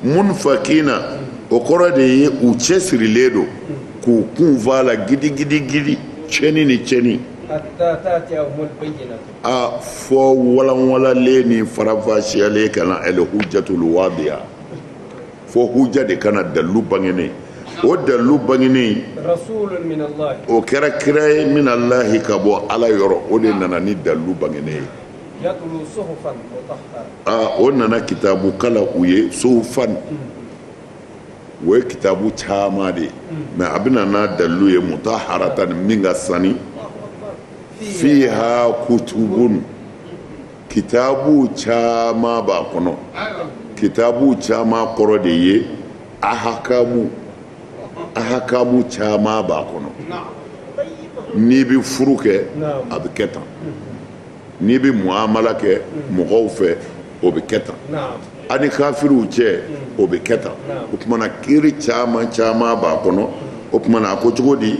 Speaker 1: munfakina o kɔrɔ de ye u cɛsirilen don k'u kun fa la gidigidigidi cɛni ni cɛni a fɔ walanwalalen ni faranfasiyalen ka na al-hujjatul wadiha fo huja de ka na dalilu bangenen o dalilu bangenen o kɛra kira ye minallahi ka bɔ ala yɔrɔ o de nana ni dalilu bangenen ye o nana kitabu kalan u ye suhufan o ye kitabu caman de ye mɛ a bɛna n'a dalilu ye mutaharatan min ka sani fiha kutubun kitabu caman b'a kɔnɔ kitabu caman kɔrɔ de ye ahakamu ahakamu caman b'a kɔnɔ n'i bɛ furu kɛ a bɛ kɛ tan n'i bɛ muamala kɛ mɔgɔw fɛ o bɛ kɛ tan ani kafiriw cɛ o bɛ kɛ tan o tumana kiiri caman caman b'a kɔnɔ o tumana a ko cogo di